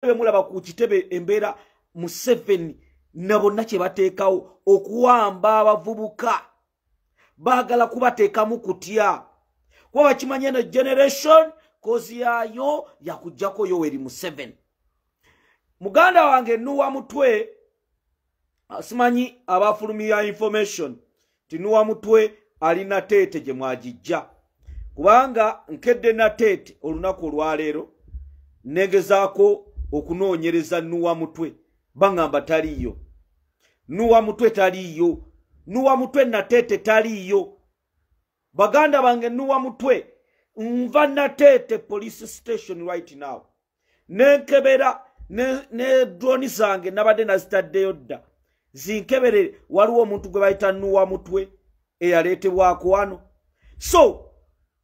bemulaba ku kitebe embeera museveni na bonna kye bateekawo okuwamba abavubuka baagala kubateekamu kutya kuba bakimanya eno generation kozi yaayo yakujjako yoweri museveni muganda wange nuwa mutwe simanyi abafulumira information tinuwa mutwe ali nateete gye mwagijja kubanga nkedde nateete olunaku olwaleero negezaako okunoonyereza nuwa mutwe baŋamba taliiyo nuwa mutwe taliiyo nuwa mutwe nateete taliiyo baganda bange nuwa mutwe nva nateete police station right now nenkebera ne droni zange nabadde nazitaddeyo dda zinkebere waliwo omuntu gwe bayita nuwa mutwe eyaleetebwako wano so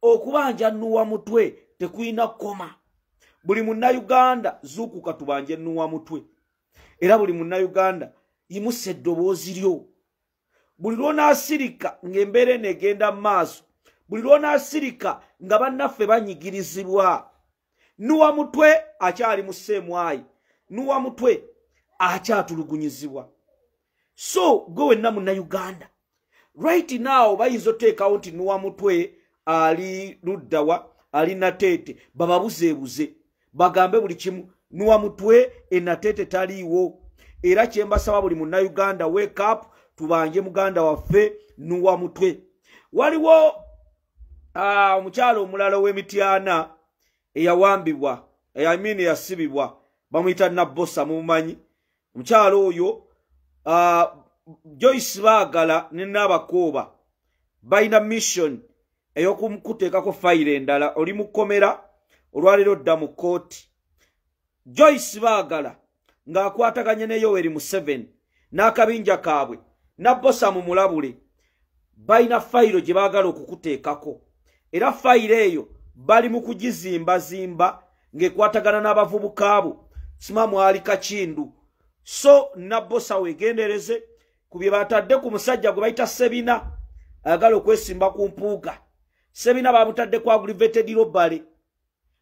okubanja nuwa mutwe tekulina kukoma buli munnayuganda zuukuka tubanje nuwa mutwe era buli munnayuganda yimusa eddoboozi lyo buli lwonaasirika ng'embeera eno egenda mu maaso buli lwonaasirika nga bannaffe banyigirizibwa nuwa mutwe akyali mu seemwayi nuwa mutwe akyatulugunyizibwa so gwe wenna munnauganda right now bayinza oteekawo nti nuwa mutwe ali luddawa ali nateete bababuzeebuze bagambe buli kimu nuwa mutwe enateete taliiwo era kyembasaba buli munnauganda wake up tubanje muganda waffe nuwa mutwe waliwo ah, omukyalo omulala ow'emityana eyawambibwa eyamini eyasibibwa bamuyita nabbosa mumumanyi omukyalo oyo ah, joyce baagala ne naabakooba balina mission ey'okumukuteekako fayiro endala oli mu kkomera olwaleero dda mu kkooti joyce baagala ng'akwataganye ne yoweri museveni n'akabinja kaabwe nabbosa mu mulabule balina fayiro gye baagala okukuteekako era fayiro eyo bali mu kugizimbazimba ng'ekwatagana n'abavubuka bo sima mwali kakindu so nabbosa weegendereze ku bye batadde ku musajja gwe bayita sebina ayagala okwesimba ku mpuuga sebina bamutadde ku agrivetedi robale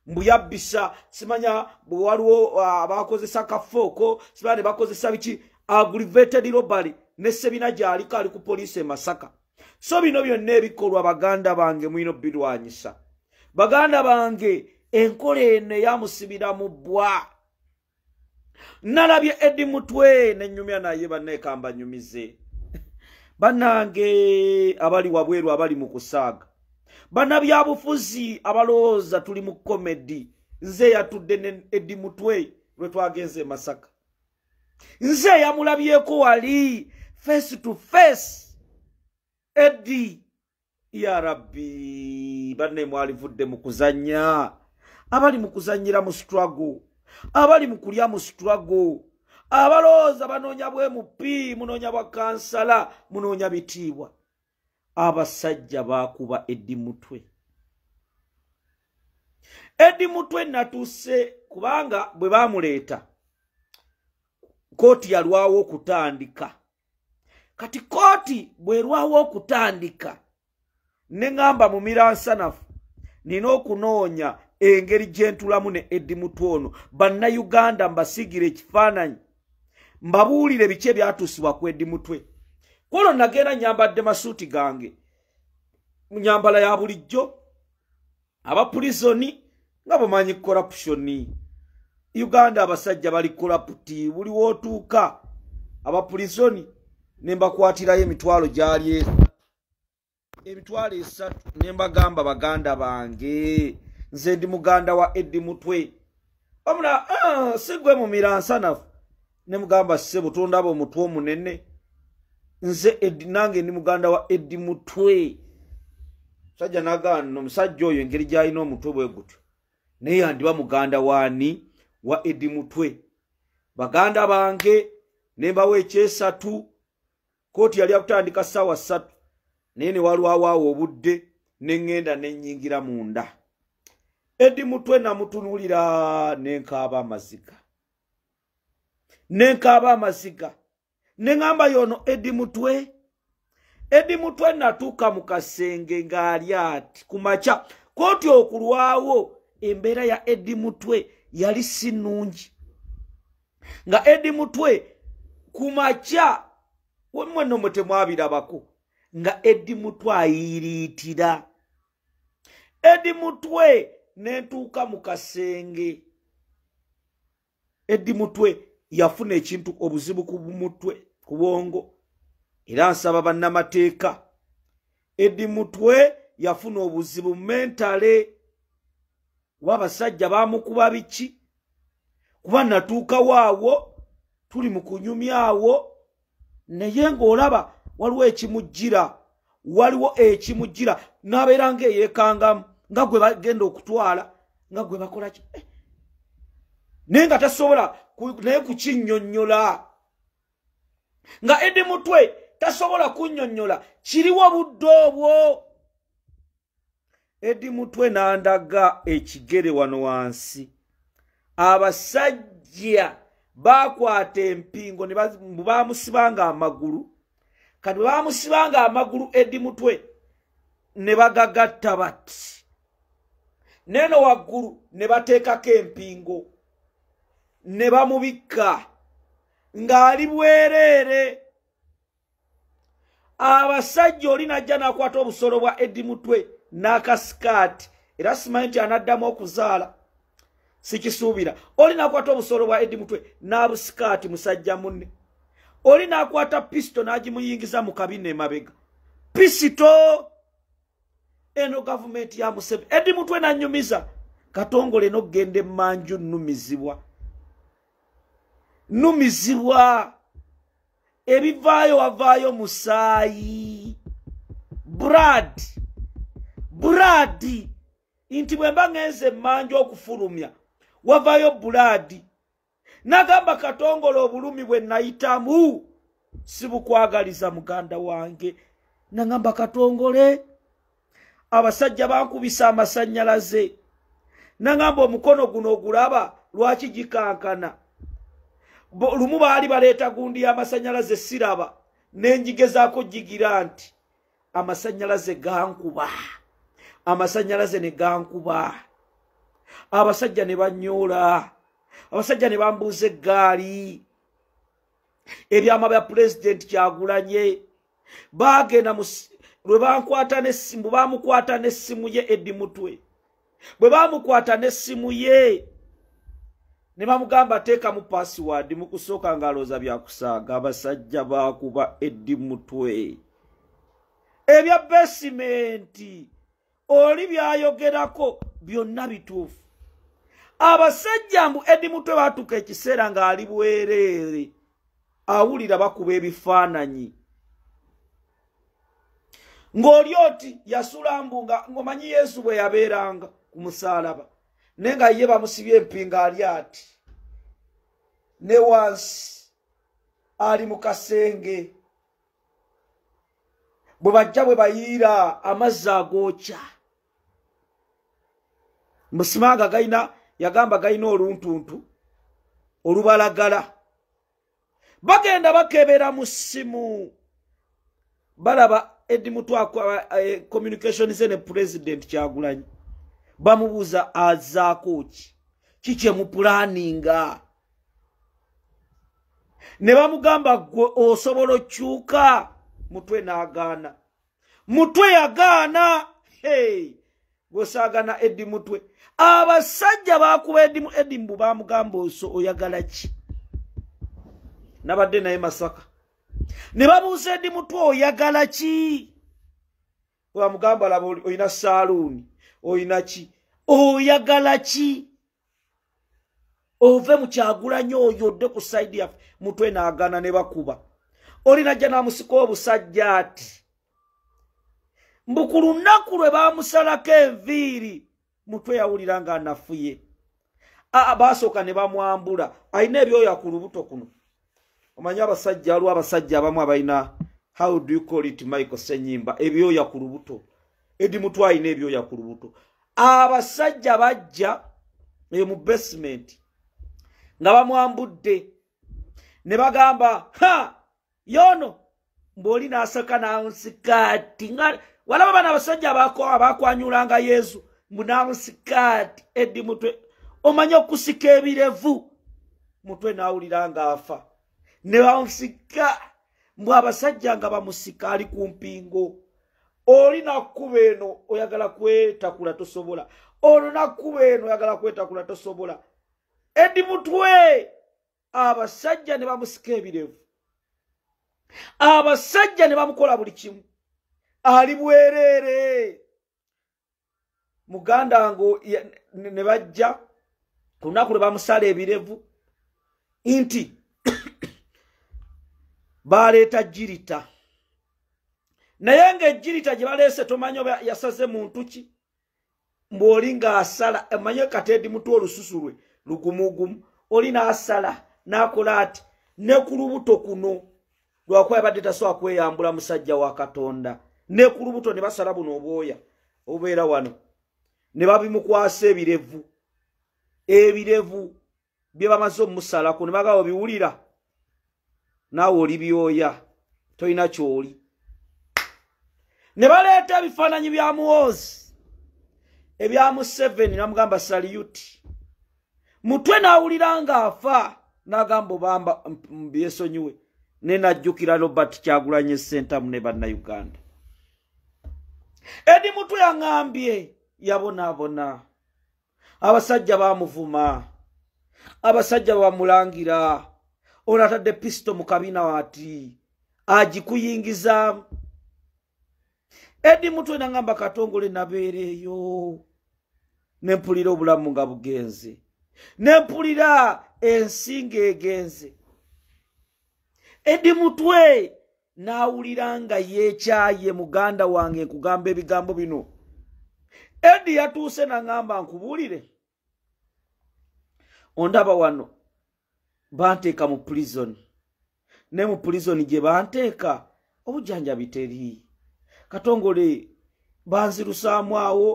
mbu yabbisa simanya bwe waliwo uh, abakozesa kafooko simanya ne bakozesa biki agrivated robbery ne sebina gyaliko ali ku poliisi e masaka so bino byonna ebikolwa baganda bange mulina obirwanyisa baganda bange enkola eno eyamusibira mu bbwa nalabye edi mutwe nenyumya naye banekamba nyumize banange abali wabweru abali mu kusaaga banabyabufuzi abalowooza tuli mu komedi nze eyatudde ne edi mutwe lwe twagenze emasaka nze eyamulabyeko wali face to face edi ya rabbi banne mwalivudde mu kuzannya abali mu kuzannyira mu struggle abali mu kulya mu struggle abalowooza banoonya bwe mupi munoonya bwa kansala munoonya bitiibwa abasajja baakuba eddi mutwe eddi mutwe natuuse kubanga bwe baamuleeta kooti yalwawo okutandika kati kooti bwerwawo okutandika ne ŋamba mu miransanafu nina okunoonya engeri gyentulamu ne edi mutu ono bannayuganda mbasigira ekifaananyi mbabuulire biki ebyatuusibwa ku edi mutwe kwolwo nagenda nyambadde masuuti gange nyambala ya bulijjo aba pulizoni nga bamanyi korapushoni uganda abasajja bali koraputi buli wootuuka aba pulizoni ne mbakwatirayo emitwalo gyali e- emitwalo esatu ne mbagamba baganda bange nze ndi muganda wa eddi mutwe wamula ah, sigwe mumiransanafu ne mugamba ssebo tondaba omutwe omunene nze edi nange ndi muganda wa edi mutwe musajja nagaano omusajja oyo engeri gyalina omutwe bwe gutyo naye yandiba muganda waani wa edi mutwe baganda bange nembawo ekyesatu kooti yali akutandika ssaawa ssatu naye newalwawaawo obudde neŋŋenda nenyingira munda edi mutwe namutunulira nenkaaba amaziga nenkaaba amaziga neŋamba yono edi mutwe edi mutwe natuuka mu kasenge ng'ali ati ku makya kooti okulwawo embeera ya edi mutwe yali si nnungi nga edi mutwe ku makya wemwenno mwe temwabirabako nga edi mutwe ayiiriitira edi mutwe nentuuka mu kasenge eddi mutwe yafuna ekintu obuzibu ku mutwe ku bwongo era nsaba bannamateeka eddi mutwe yafuna obuzibu mentale kuba abasajja bamukuba biki kuba natuukawo awo tuli mu kunyumya awo naye ng'olaba waliwo ekimujjira waliwo ekimujjira n'abeera nga eyekangamu nga gwe bagenda okutwala nga gwe bakola ki eh. naye nga tasobola naye kukinyonyola nga edi mutwe tasobola kunyonyola kiriwo budde obwo edi mutwe nandaga ekigere wano wansi abasajja bakwata empingo bamusibanga amagulu kati bwebamusibanga amagulu edi mutwe ne bagagatta bati neeno waggulu ne bateekako empingo ne bamubikka ng'ali bwereere abasajja oli najja nakwata obusolo bwa edi mutwe n'akasikaati era simanyi nti anaddamu okuzaala sikisuubira oli nakwata obusolo bwa edi mutwe n'abusikaati musajja munne oli nakwata pisito n'agimuyingiza mu kabina emabega pisito eno gavumenti ya museveni edi mutwe nanyumiza katongole nokugenda emanju numizibwa numizibwa ebivaayo wavaayo musaayi brad brad nti bwe mba ngenze emmanja okufulumya wavaayo bulaadi nagamba katongola obulumi bwe nayitamu sibukwagaliza muganda wange nagamba katongole abasajja bankubisa amasanyalaze nangamba omukono guno ogulaba lwaki gikankana lumu baali baleeta gundi y'amasanyalaze siraba nenjigezaako jigira nti amasanyalaze gankuba amasanyalaze ne gankuba abasajja ne banyoola abasajja ne bambuuza eggaali ebyama bya pulezidenti kyagulanye baagenda lwe bankwata nesimu baamukwata nesimu ye edi mutwe bwe baamukwata nesimu ye ne bamugamba ateekamu paasiwaadi mu kusooka ng'alooza byakusaaga abasajja baakuba edi mutwe ebya besimenti oli byayogerako byonna bituufu abasajja mbu edi mutwe batuuka ekiseera ng'ali bwereere awulira bakuba ebifaananyi ng'oli oti yasula mbu ngaomanyi yesu bwe yabeeranga ku musaalaba naye nga ye bamusibye empinga ali ati ne wansi ali mu kasenge bwe bajja bwe bayiira amazzi agookya musimanga galina yagamba galina oluntuntu olubalagala bagenda bakebera mu ssimu balaba edi mutwakwa eh, communication ze ne president kyagulanyi bamubuuza azaako ki kikyemupulaninga ne bamugamba gwe osobola okyuka mutwe n'agaana mutwe yagaana hey. gwesaagana edi mutwe abasajja bakuba edimu edi mbu bamugamba oso oyagala ki nabadde naye masaka ne babuuza edi mutwe oyagala ki wamugamba laba olina saaluuni olina ki oyagala ki ove mukyagulanyi oyo odde ku saidi yaffe mutwe naagana ne bakuba olina jja namusika obusajja ati mbu ku lunaku lwe bamusalako enviiri mutwe yawulira nga anafuye baasooka ne bamwambula alina ebyoya ku lubuto kuno omanyi abasajja waliwo abasajja abamu abalina how do you call it michael senyimba ebyoya ku lubuto edi mutu alina ebyoya ku lubuto abasajja bajja eyo mu basement nga bamwambudde ne bagamba ha yono mboli nasaka nansikati nga walaba bana abasajja abakwanyulanga yesu mbu nansikati edi mutwe omanya okusika ebirevu mutwe nawulira nga afa ne bansika mbu abasajja nga bamusika ali ku mpingo oli nakuba eno oyagala kwetakula tosobola olwo nakuba eno oyagala kwetakula tosobola edi mutwe abasajja ne bamusika ebirevu abasajja ne bamukola buli kimu ali bwereere muganda ngo ne bajja ku lunaku lwe bamusala ebirevu nti baleeta jirita naye ng'ejirita gye baleese tomanya oba yasaze muntu ki mbwoli nga asala emanye katedi mutwe olususu lwe lugumugumu oli nasala nakola ati ne ku lubuto kuno lwakuba yabadde tasobola kweyambula musajja wa katonda ne ku lubuto ne basala buno obwoya obubeera wano ne babimukwasa ebirevu ebirevu byebamaze omusalako nebaga obiwulira naawe oli byoya tolina kyoli ne baleeta ebifaananyi bya muwoozi ebya museveni namugamba saliyuti mutwe naawulira nga afa nagamba obamba byesonyiwe ne najjukira robert kyagulanye sentamu ne bannauganda edi mutwe yaŋambye yabonaabona abasajja bamuvuma abasajja bamulangira ono atadde pisito mu kabina wati agikuyingizaamu edi mutwe nangamba katongole nabeereeyo nempulira obulamu nga bugenze nempulira ensi ngaegenze edi mutwe n'awulira nga yeekyaye muganda wange nkugamba ebigambo bino edi yatuuse naŋamba nkubuulire ondaba wano banteeka mu pulizoni ne mu pulizoni gye banteeka obujjanjabi teri katongole banzirusaamu awo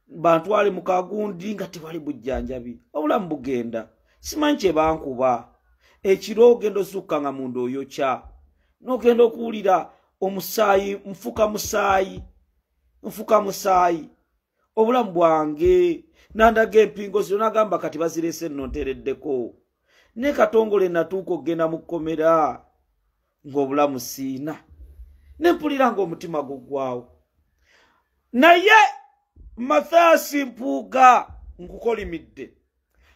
bantwale mu kagundi nga tewali bujjanjabi obulamu bugenda simanyi kye bankuba ekiro ogenda osukka nga munda oyokya n'ogenda okuwulira omusaayi nfuka musaayi nfuka musaayi obulamu bwange nandaga empingo zino nagamba kati bazirese nno ntereddeko ne katongole natuuka okugenda mu kkomera ng'obulamu siina ne mpulira ng'omutima guggwawo naye mathaasi mpuuga nkukolimidde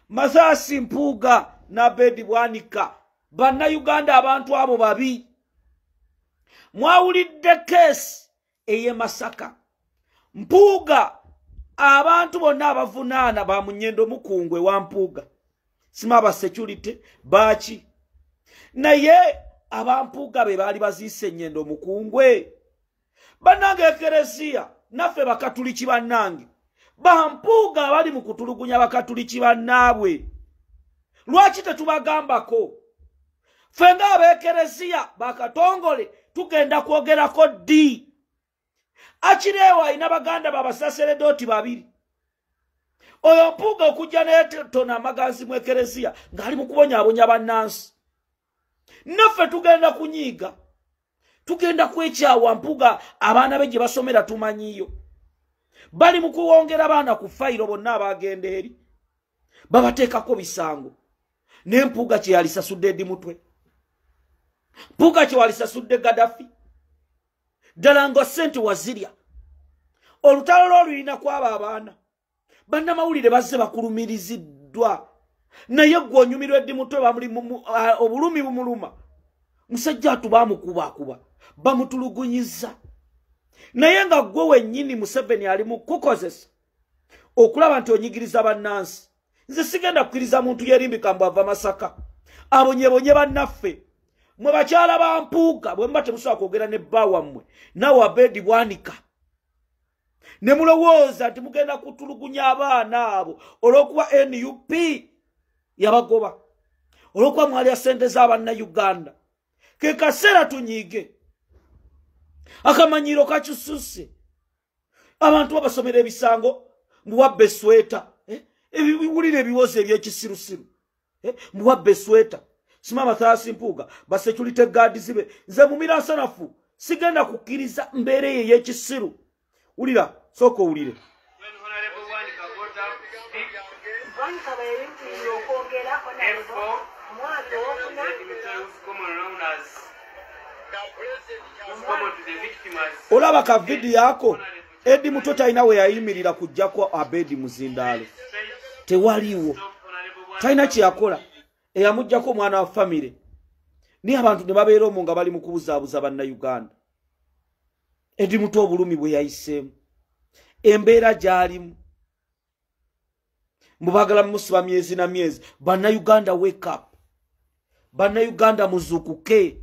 mathaasi mpuuga n'abeedi bwanika bannayuganda abantu abo babi mwawulidde keesi eye masaka mpuuga abantu bonna abavunaana ba munyendo mukungwe wa mpuuga sima ba security baaki naye abampuuga be baali baziisa enyendo mukungwe bannange ekereziya naffe bakatuliki bannange bampuuga abali mu kutulugunya bakatuliki bannaabwe lwaki tetubagambako ffe ng'abeekereziya bakatongole tugenda kwogerako ddi akireewo alina baganda babasaseredooti babiri oyo mpuuga okujja naye tona amaganzi mu ekereziya ng'ali mu kubonyabonya bannansi naffe tugenda kunyiiga tugenda kwekyawa mpuga abaana be gye basomera tumanyiyo bali mu kuwongera baana ku fayiro bonna abagenda eri babateekako bisango naye mpuuga kye yalisasudde edi mutwe mpuuga kye walisasudde gadafi ddala nga sente wazirya olutalo lwo lulina kwaba abaana bannamawulire bazze bakulumiriziddwa naye gwe onyumirwa eddi mutwe bamuli obulumi bumuluma musajja atu bamukubakuba bamutulugunyiza naye nga gwe wennyini museveni ali mu kukozesa okulaba nti onyigiriza bannansi nze sigenda kukkiriza muntu yerimbika mbu ava masaka abonyebonye bannaffe mwe bakyala ba mpuuga bwe muba temusobola kwogera ne bba wammwe nawe abeedi bwanika ne mulowooza nti mugenda kutulugunya abaana abo olw'okuba nup yabagoba olw'okuba mwalya ssente z'abanna uganda ke kaseera tunyiige akamanyiiro kakyususe abantu babasomera ebisango mbuwabba esweta eh? ebiwulira ebiwozi ebyekisirusiru eh? mbuwabba esweta sima mathaasi mpuuga basecurity gaadi zibe nze mumira nsanafu sigenda kukkiriza mbeera eyo eyekisiru wulira sooka owulire olaba ka vidiyo ako edi muto talina we yayimirira kujjako abedi muzindaalo tewaliwo talina kyeyakola eyamujjako omwana wa famire naye abantu ne babeera omu nga bali mu kubuzaabuza bannayuganda edi muto obulumi bwe yayiseemu embeera gy'alimu mubagala musiba myezi na myezi bana uganda wake up bana uganda muzukuke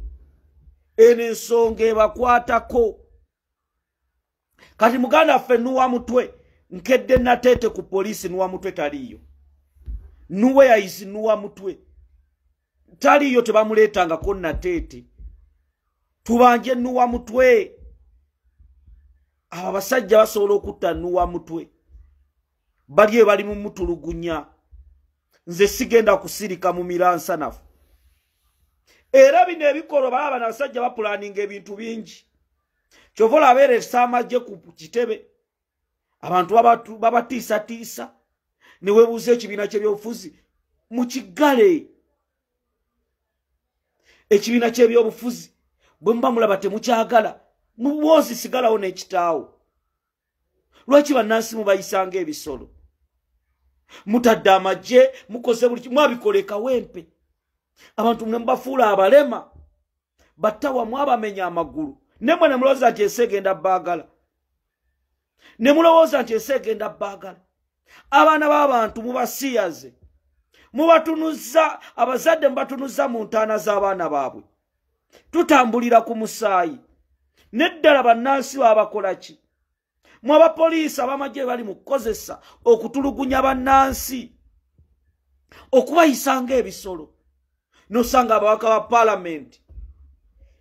eno ensonga ebakwatako kati muganda ffe nuwa mutwe nkedde nateete ku poliisi nuwa mutwe taliiyo nuwe yaisi nuwa mutwe taliyo tebamuleetangako nateete tubanje nuwa mutwe abo abasajja basobola okutta nuwa mutwe bali ebali mumutulugunya nze sigenda kusirika mu miransanafu era bino ebikolo baba bana abasajja bapulaninga ebintu bingi kyova olabeera esamagye ku kitebe abantu babatiisatiisa ne webuuza ekibiina kyebyobufuzi mukigale ekibiina kyebyobufuzi bwe muba mulaba temukyagala mubwozi sigalawo n'ekitaawo lwaki bannansi mubayisanga ebisolo mutadde amagye mukoze buli mwabikola ekawempe abantu mwe mubafuula abalema battawa mwabamenya amagulu nemwe ne mulowooza nti ensi egenda baagala ne mulowooza nti ensi egenda baagala abaana b'abantu mubasiyaze mubatunuza abazadde mubatunuza mu ntaana z'abaana baabwe tutambulira ku musaayi neddala bannansi babakola ki mu abapoliisi abamagye bali mu kukozesa okutulugunya bannansi okubayisa ng'ebisolo nosanga ababaka ba palamenti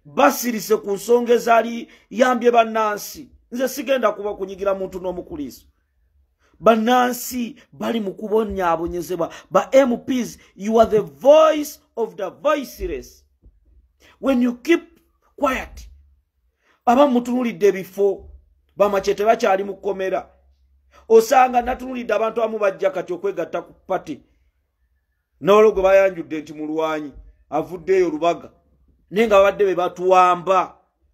basirise ku nsonga ezaali yambye bannansi nze sigenda kuba kunyigira muntu n'omukuliiso bannansi bali mu kubonyaabonyezebwa ba mps you are the voice of the voiceless when you keep quiet aba mutunulidde ebifo bamacye tebakyali mu kkomera osanga natunulidde abantu abamu bajja kati okwegatta ku pati nolo gwe bayanjudde nti mulwanyi avuddeeyo lubaga naye nga babadde be batuwamba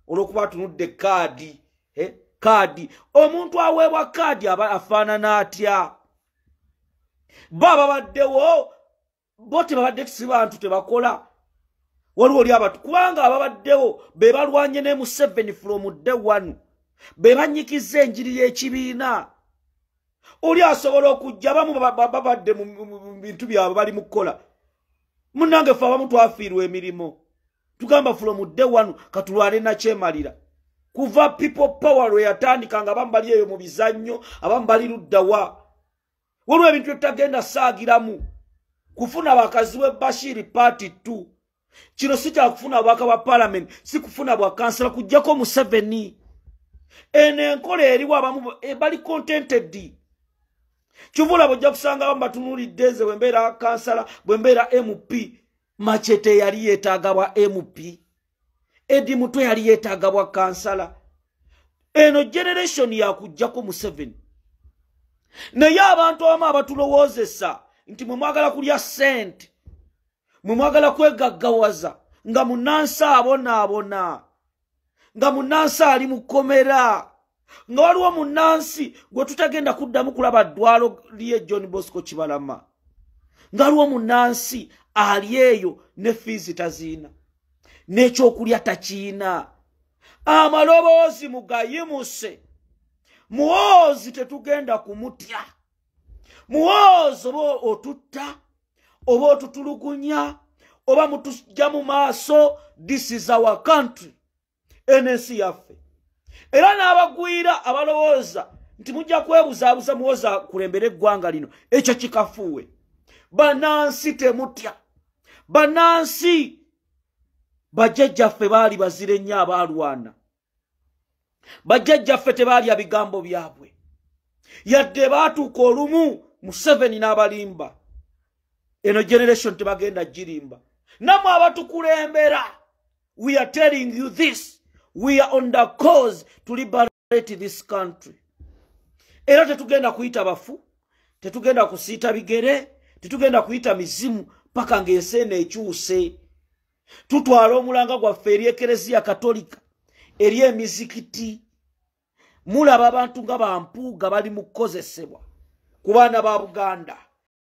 olwokuba atunudde kaadi eh, kaadi omuntu aweebwa kaadi aba afaanana atya bo ababaddewo bo tebabadde si bantu tebakola waliwo oli abantu kubanga ababaddewo be balwanye ne museveni from day one be banyikiza enjiri y'ekibiina oli asobola okujja abamu babadde mu bintu byabwe bali mu kukola munange fe abamu twafiirwa emirimu tugamba from day one katulwane nakyemalira kuva people power lwe yatandika nga abamu bali eyo mu bizannyo abamu bali luddawa waliwo ebintu byetutagenda saagiramu kufuna bakazi we bashiri party t kino si kyakufuna bwaka bwa palamenti si kufuna bwa kansala kujjako museveni eno enkola eriwo abamu eh, bali contented kivula bwojja kusangawo mbatunulidde nze bwembeera kansala bwembeera mp machete yali yetaaga bwa mp edi mutwe yali yetaaga bwa kansala eno generation yakujjako museveni naye abantu abamu abatulowoozesa nti mwe mwagala kulya sente mwe mwagala kwegaggawaza nga munansi abonaabona nga munansi ali mu kkomera nga waliwo munnansi gwe tutagenda kuddamu kulaba ddwalo lye john bosco kibalama nga waliwo munnansi ali eyo ne fiizi taziina n'ekyokulya takiina amaloboozi mugayimuse muwoozi tetugenda kumutya muwoozi oba otutta oba otutulugunya oba mutujja mu maaso this is our country eno ensi yaffe era n'abagwira abalowooza nti mujja kwebuzaabuza muwoza kulembera eggwanga lino ekyo kikafuuwe banansi temutya banansi bajjajjaffe baali bazira ennyo abaalwana bajjajjaffe tebaalya bigambo byabwe yadde baatuuka olumu museveni n'abalimba eno generation tebagenda girimba namwe abatukulembera we are telling you this we are on the cause to liberate this country era tetugenda kuyita bafu tetugenda kusiita bigere tetugenda kuyita mizimu paka ng'ensi eno ekyuse tutwala omulanga gwaffe eri ekereziya katolika eri emizikiti mulaba abantu nga bampuuga bali mu kukozesebwa ku baana ba buganda